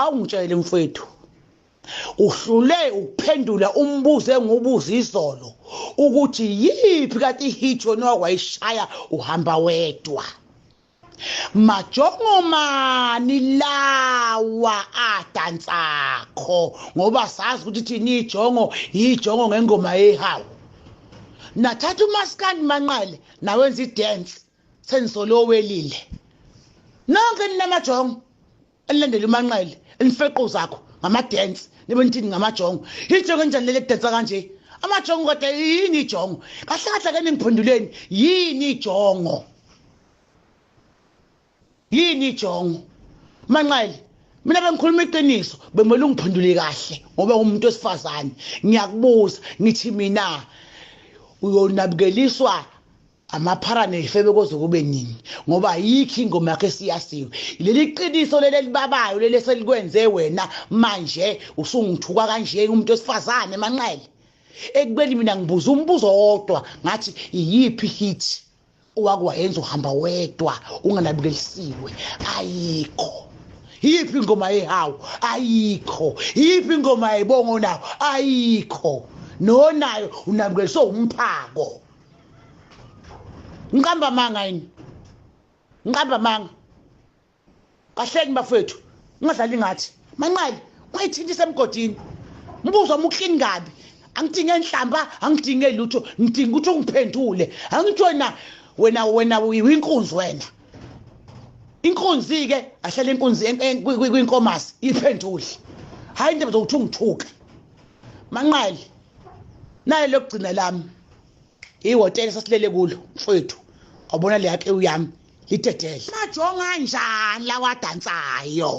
awungitshele mfwethu uhlule ukuphendula umbuzo engubuza izolo ukuthi yiphi kati hit yona wakwayishaya uhamba wedwa majongomani lawa adansakho ngoba sazi ukuthi thina ijongo yijongo ngengoma yehawu nathatha umaskandi manqale nawenza idance sengisole owelile nonke ninamajongo elilandela umanqele elifeqo zakho ngamadensi nibe nithini ngamajongo ijongo enjani leli kudensa kanje amajongo kodwa yini ijongo kahle kahle ke ningiphenduleni yini ijongo yini ijongo manqele mina bengikhuluma iqiniso bemele ungiphendule kahle ngoba ngumuntu wesifazane ngiyakubuza ngithi mina uyonabukeliswa amaphara nezifebe koze kube nini ngoba ayikho ingoma yakhe esiyasiwe leli qiniso leli elibabayo leli eselikwenze wena manje usungithuka kanje umuntu wesifazane manqele ekubeni mina ngibuza umbuzo wodwa ngathi iyiphi hit owakuwayenza uhamba wedwa unganabukelisiwe ayikho yiphi ingoma yehawu ayikho yiphi ingoma yebongo nawo ayikho nonayo unabukeliswe umphako ngiqamba amanga yini ngiqamba amanga kahleni bafethu ungadlali ngathi manqali ungayithinti semgodini mbuzo muklini kabi angidinge nhlamba angidinge lutho ngidinga ukuthi ungiphendule angithi wena wena wena uyinkunzi wena inkunzi-ke ahlale inkunzi kwinkomasi iphendule hhayi indaba zokuthi ungithuke manqali naye lokugcina lami ihotela sasilele kulo mfowethu wabona le yake uyami lidedele majonga njani lawadansayo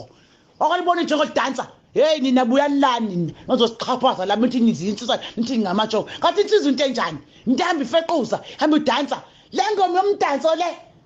okalibona njengo dansa hey nina buyalani nina nozosixhaphaza la mithi nizinsizwa nithi ngingamatsho kathi insizwa into enjani ntambi ifequza hamba udansa le ngoma yomdanso le